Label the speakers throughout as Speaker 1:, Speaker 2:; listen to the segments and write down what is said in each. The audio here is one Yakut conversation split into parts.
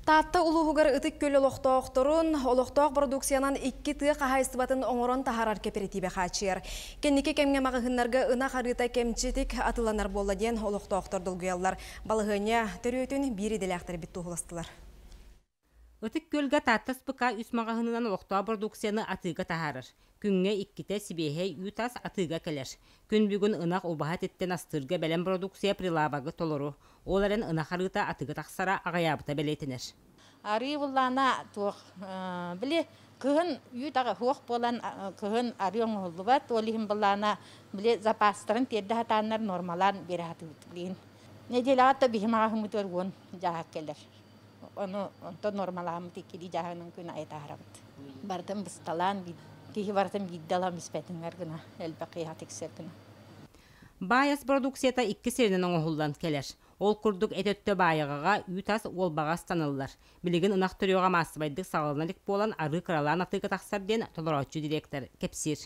Speaker 1: Таатта улууһугар Ытык Күл олохтоохторун олохтоох бородууксуйанан икки тыа хаһаайыстыбатын оҥорон таһаарар кэпэрэтиибэ хааччыйар. Кэнники кэмҥэ маҕаһыыннарга ынах арыыта кэмчитик атыланар буолла диэн олохтоохтор долгуйаллар. Балаһыанньа төрүөтүн биир идэлээхтэр эбит туоһуластылар.
Speaker 2: Ытык Күлгэ Таатта СПК үс маҕаһыынынан олохтоох бородууксуйаны атыыга таһаарар. Күҥҥэ иккитэ сибиэһэй үүт ас атыыга кэлэр. Күн бүгүн ынах убаһа этиттэн астыырга бэлэм продукция прилавогы толору, ол эрэн ынах арыыта атыгы тахсара аҕыйаабыта бэлиэтэнэр. Арыы
Speaker 3: быллаана туох били кыһын үүт аҕыһуох буолан кыһын арыы оҥоһуллубат, ол иһин быллаана били запастарын тиэрдэ сатааннар нуормалаан биэрэ сатыыбыт. Нэдиэлэҕэ да биһим аҕаһыммытыгар уон дьааһык кэлэр. Ону онто нормаламмыт иккилии дьааһынан күн айа таарабыт. Бартын бысталаан киһи бартын биирдэ ылам испэтингэр гына элбэх киһи тиксэр гына. Баайас
Speaker 2: продукцията икки сиринэн оҥоһуллан кэлэр. Ол курдук эт өттө баайаҕаҕа үүт-ас уолбаҕа ыстаныллар. Билигин ынах төрүөҕэ маассабайдык саҕалана илик буолан, арыы кыралаан атыыга тахсар диэн толорооччу директор кэпсиир.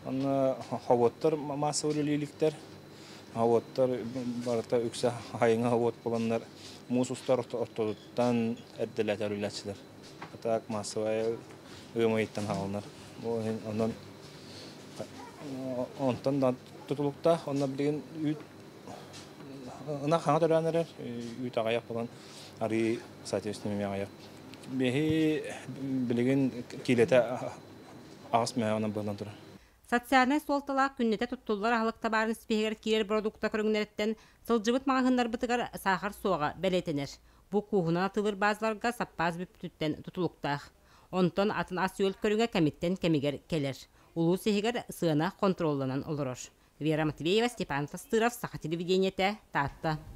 Speaker 4: Онно һовуоттар массовай үлэлииликтэр. Һовуоттар барыта үксэ айыҥа һовуот буоланнар муус устар ортотуттан эрдэлээтэр үлэлээччилэр. Так массовай ыамыйыттан хааланар. Онон онтон да тутулуктаах. Онно билигин үүт ынах хаҥа төрөөн эрэр, үүт аҕыйах буолан арыый соответственно эмиэ аҕыйах. Биһи билигин киилэтэ аҕыс мөһөөнө буолан турар социальнай
Speaker 2: суолталаах күннэтэ туттуллар аһылык табаарын ситиһигэр киирэр продукта көрүҥнэриттэн сылдьыбыт маҕаһыыннарбытыгар саахар суоҕа бэлиэтэнэр бу кууһунан атыылыр баазаларга саппаас бүппүтүттэн тутулуктаах онтон атын ас-үөл көрүҥэ кэмиттэн кэмигэр кэлэр улуус иһигэр сыана хонтуруолланан олорор вера матвеева степан састыров саха телевидениетэ таатта